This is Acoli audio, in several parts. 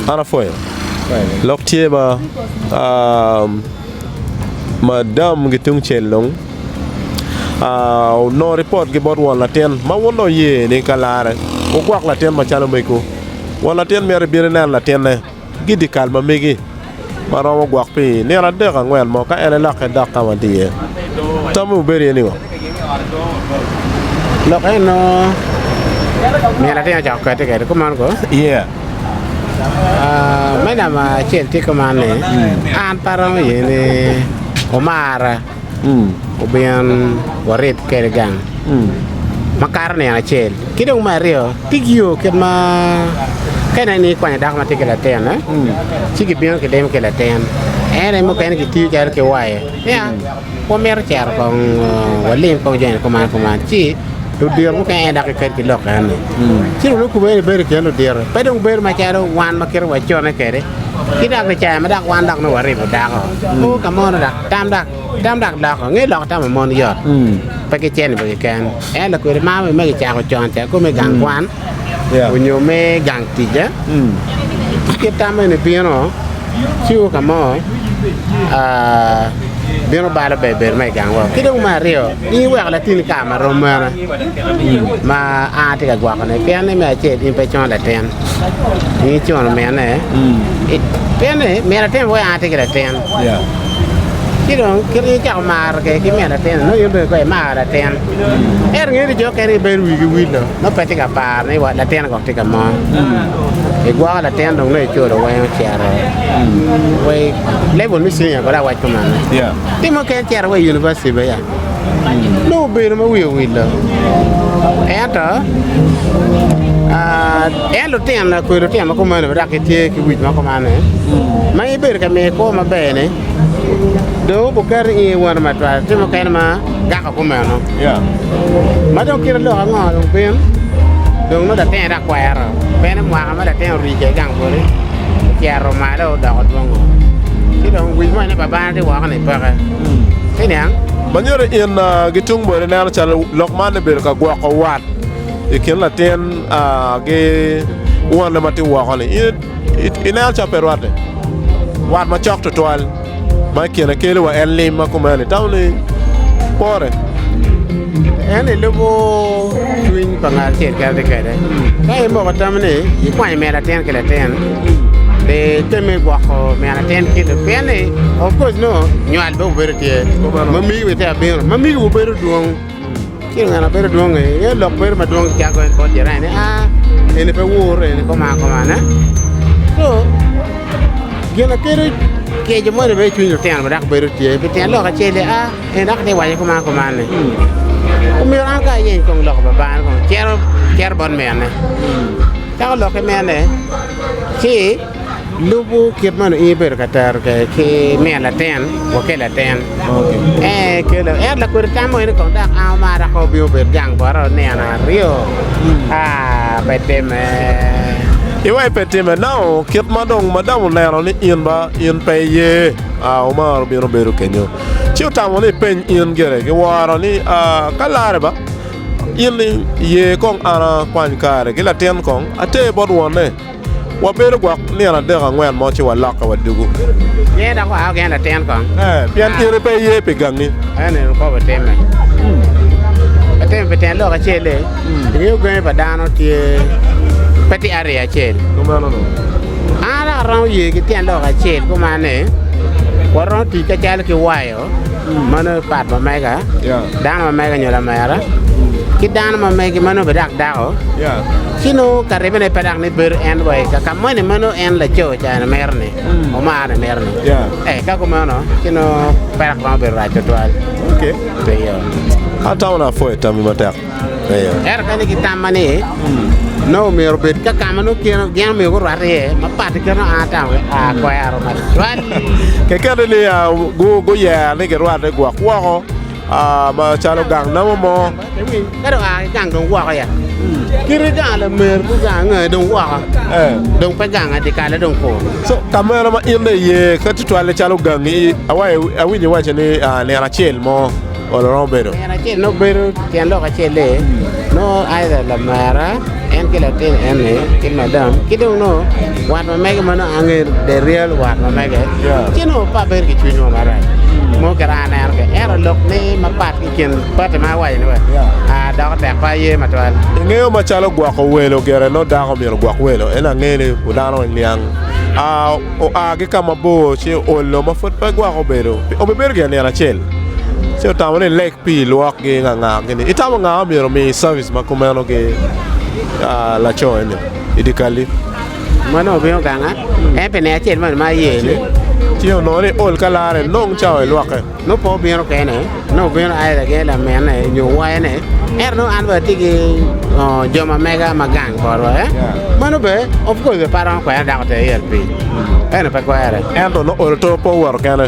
An apwoyo lok tye ma madam ki tung cel dong onongo ripot ki bot won latin ma wun dong wuye ni ka larre wugwok latin macalo mego won latin myero ibin ineno latinne. ki dyekal ma megi ma romo gwok pi nino adek angwen mo ka en aye lokke dok ka ma en tye iye. Tam ma wubedo iye ni ngo? Lok eni nongo nino latin aye ocako kati kwede kuman ko. Yeah. Ah, me namba acel tye kuman ni an pe aromo ye ni omara. obin warib kwede gang makato nino acel ki dong me aryo tic yo kit ma ka ineno ni ikwanyo dako ma tye ki latinone ci kibino kidimo ki latin ento i mukene kitiyo calo ki wayo niya wamito cito kong walim kong joni kuman kuman ci ludito mukene en aye dok giked ki lok enoni ci dong nongo kube ni bedo i kin ludito pe dong bedo macalo wan ma kite wacone kwede ki dok i cawa ma dok wan dok nongo waribo dako o ka mono dok Tam dak tam dak loko nge loko tamo mon yot pe ki cen ibo kiken en lakwede ma me ki cako con ca ko me gang kwan onyo me gang tic eh ci kit tam eni bino ci o ka mo bino balo ber ber ma igang wok ki dong me aryo in iweko latini kare ma rom mene ma an atye ka gwoko ne pien ni me acel in pe icono latin in icono mine pien ni mine atin weko an atye ki latin. Ci dong kit ma in icako maro kwede ki me latin-ni, nongo in bene kong imar latin. Ento ngeyo ni jo mukene gibedo wigi wilo nongo pe gitye ka paro ni latin kong tye ka mo. Igwoko latin dong nongo iculo weng ocito wa i level me cinia kono awaco mana. Tim mukene cito wa i univaciti bene. nongo obedo ma wiye owil-la ento en lutino na kodi lutino ma kumeno dok gitye ki wic ma kumane ma in ibedo ka miye kwo maber-ni dong obuketo i nge wano matwal tye mukene ma gako kumeno ma dong kite lok ango dong bin dong nongo latinone dok kwero meno mwaka ma latin oricce i gang boti ocito malo odoko dwongo ci dong wic moni babane tye woko ni peke. Ma nyuto in gi tung boti neno calo lok man ni bedo ka gwoko wat i kin latin ki wonne ma tye woko-ni i neno calo pe rwatte. Wat macok tutwal ma i kine keli wa en lim ma kumeno itamo ni pore. En ilubo cwiny pa ngat acel kadi kadi ka in bene itamo ni ikwanyo me latin ki latin. Pe item me gwoko min atin kit ni pien ni of course nongo nywal dong bedo tye, mamigi bene tye ka bino, mamigiwu bedo dwong ci ngat ma bedo dwong-ngi inge lok bedo madwong calo en bot jirani ni aa eni pe wur eni koma koma ne so gin ma kelo kico moni bene i cwiny lutino dok bedo tye pi tyen lok acel-li a en dok tye ka waco koma koma ni omyero an kong ayeny lok pa bangane kong cito bot minne. Ka olokke mene, ci lubu kit ma nongo in ibedo ka tero kwede ki miyo latin wa ki latin. Ee, kelo. Ento lakodi tam moni kong dok an amarra kong obino obed gang bota onino aryo. Aa, pe timme. Iwa i pe timme nao kit ma dong madam oneno ni in ba in pe iye. Aa, Omar obino obedo kenyo, ci otamo ni epeny in gire ki woro ni, Aa, ka larre ba In ni, Ye kong an akwany kare ki latin kong ater bot wonne. Wabedo gwok nino adek angwen mo ci walokke wa dugu. Ye dok waa wageng latin kong. Ee, pien in pe iye pi gangi. Eno en okobo timme. Atimo pi tyen lok acel-li, ingeyo gangi pa dano tye pe tye arye acel. Kumeno dong. An dok aromo ye ki tyen lok acel kuman ni, waromo tic kacel ki wayo. Mano aye pat ma mega, dano ma mega nyo lamera, ki dano ma megi ma nongo bene dok dako, ci nongo ka ribene pe dok ni bedo en wa i ka moni ma nongo en laco ca en mito-ni, omar ni mito-ni. Ee, ka kumeno ci nongo pe dok romo bedo rac tutwal. Pe yo. Atamo na apwoyo tammi matek. Ento kadi ki tamma ni nongo myero obed ka ka ma nongo gin omyero gurwat iye mapat ki kit ma an atamo kwero macwal. Kekeni ni guyero ni girwatte gwok woko macalo gang namo mo. Ka dong oa ki gang dong woko ya, kite gang lamer ki gang angai dong woko, dong pe gang dyekal dong kur. Co ka meno ma in dong iye ka tutwalle calo gangi, awinyo iwaco ni nino acel mo. Olo romo bedo tyen acel nongo bedo tyen lok acel-le nongo aidha lamera en ki latin eni ki madam ki dong nongo wat ma mege ma nongo angeyo the real wat ma mege ci nongo pa bedo ki cwinywa marac mo kit ma aneno kwede ento lok ni mapat ki i kin pati ma iwaconi wa doko tek pe aye matwal. Ingeyo macalo gwoko welo gire nongo dako myero ogwok welo en ange ni dano oniang oa ki ka mabor ci oolo ma pud pe gwoko bedo obibedo gire nino acel. ci otamo ni leg pii lwokgi nganga gini. Itamo nga ma myero omi service ma kumeno ki ah, laco eni i dikali? Mon obino ganga en pe ne acel moni ma aye ni. Ci onongo ni ol ka lare nong cao i lwokke. Nongo pe obino kene, nongo obino either gin laminne nyo wayone. Ento nongo an bene atye ki oh, jo ma mega ma gang botwa. eh. Mano be of course be pe aromo kwere dako te yel piny. Eno pe kwere. Ento nongo ol to pe owoto kene.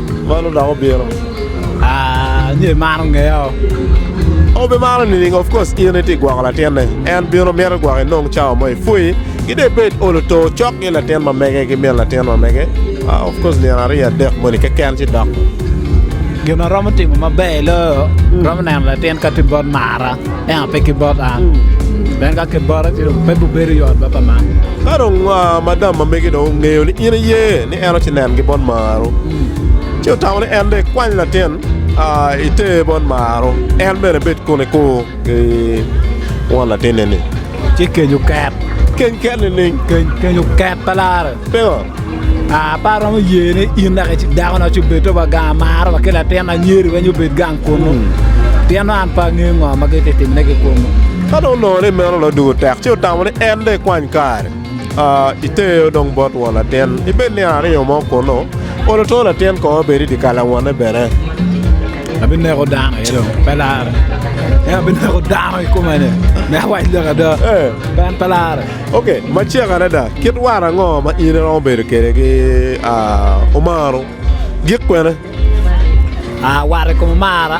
Man odok obino. Ah, nyo imaro ngeya o. O be maro nining? Of course in iti gwoko latinne. En bino mito gwoko inong cawa mo ipwui. Ki dong ibed olo to cok ki latin ma mege ki min latin ma mege. Ah, of course nino aryo adek moni keken ci dok. Gin ma romo timo maber i loyo, romo neno latin ka ti bot mara, ento pe ki bot an. Pien ka ki bota ci dong pe bibedo yot baba man. Ka dong ah, madam ma megi dong ongeyo ni in iye, ni en ocinengi bot Maaro, ci otamo ni en dong ikwany latin iter bot Maaro, en bene ebed kun ekur ki won latinne-ni. Ci keny oket. Keny ket nining? Keny oket pa lare. Pingo? Aa, pe aromo ye ni in naka icik dakona ci obed to wa gang amaro wa ki latin anyeri weny obed gang kunu, pien nongo an pe angeyo ngo ma gititimone ki kunu. Ka dong onongo ni meno dong dugo tek, ci otamo ni en dong ekwany kare. Iteo dong bot won latin, ibed ni ario mo kunnu, olo two latin kong obed i dyekal awonne bene. Abineko dano aye dong, pe larre. En abineko dano i kumene, me awac lok ada, Ee. pe en pe larre. Ok, macek adada, kit war ango ma in iromo bedo kwede ki aa, omaro? Gik kwene? Aa, war i kom omara.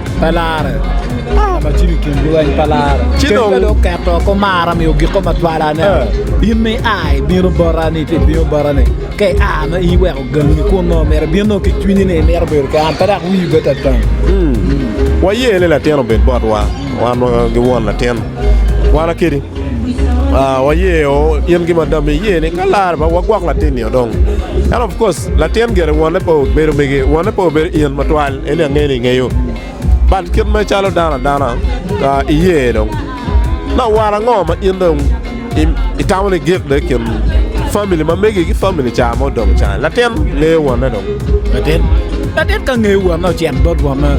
pa lare ma cim i kin lweny pa lare ci dong dong keto ko mara mi ogiko ma twala ne eh. in mi ai bino borani ti bino borani ke a ma i weko gangi kun no mere bino ki cwinyi ni mero bedo ke an pedak wi bet atang hmm. wa ye le latin obed bot wa wan gi won latin wana kedi Ah, wayeo in gin ma dong iye ni ka larre pe wagwok latin nio dong. Ento of course latin gire wonne pe obedo mege, wonne pe obedo in matwal, en ni angeyo ni ingeyo. But kit ma icalo dano adana, ah, iye dong. Dok war ango ma in dong i- itamo ni gik dong i kin famili ma megi ki famili ca ma odong ca-ni? Latin ngeyo wonne dong. Latit, latit ka ngeyo wonne ocito bot wonne.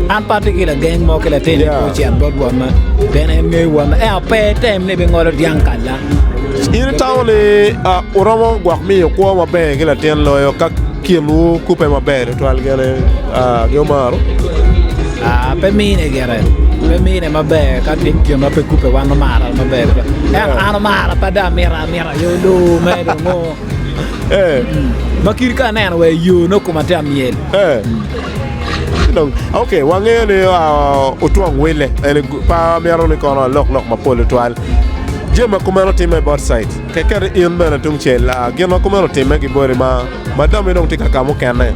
An pe atye ki lageng mo ki latin Yeah. yeah. ocito bot wonne. Pien en ngeyo wonne. En ape tem ni bingolo dyang kalla. In itamo ni ah, uromo gwok miyo kwo maber ki latin loyo ka kinwu kubbe maber tutwal gin aye ah, gi omaro. Ah, pe mine gire. Pe mine maber ka gin gin ma pe kubbe wan omara maber. En Yeah. an omara pe da mira mira yo loo me dongo. Eh. Ma kiri ka aneno wa i yo nongo koma te amyel. Eh. Dong, okay, wangeyo ni ah, otwong wille en i gu- pa myero ni kono alok lok mapol tutwal jami ma kumeno timme bot site kekeri in bene tungcel ah, gin ma kumeno timme ki boti ma ma dami dong tye ka ka mukene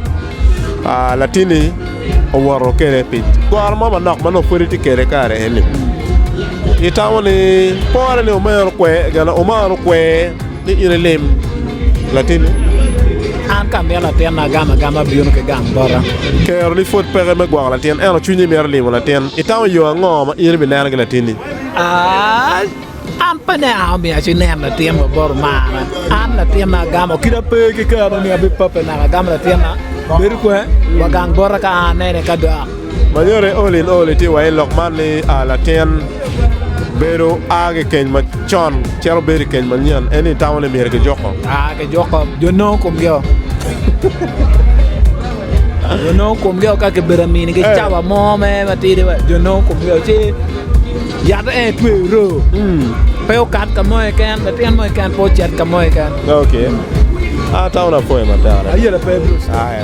ah, latini owoto kede pi goro mo manok ma nongo pwod itye kede kare eni itamo ni pore ni omero kwe gana omaro kwe Ni in ilim latinni. An ka amito latinna agam agama abino ki gang bota. Kero-ni pwod peke me gwoko latin, ento cwinyi mito limo latin. Itamo yo ango ma in ibineno ki latinni? An pe ni an omiyo ci nen latin wa bot omarna. An latinna agamo kite pe ki kero-ni, abipabbe naka agam latinna. Bedo kwer, wa gang bota ka an anene ka dok. Ma nyuto all in all itye wa i lok man ni a latin bedo a ki keny macon cito bedo i keny manyen eni itamo ni myero kijuko? A kijuko jo nongo komgio jo nongo komgio ka kibedo amini ki caba mo me matidi wa jo nongo komgio ci yat en itweyo ro pe okat ka mo keken latin mo keken pe ocit ka mo keken. Okay. Ah town apwoyo matek. Ayela pe Bruce. Ae.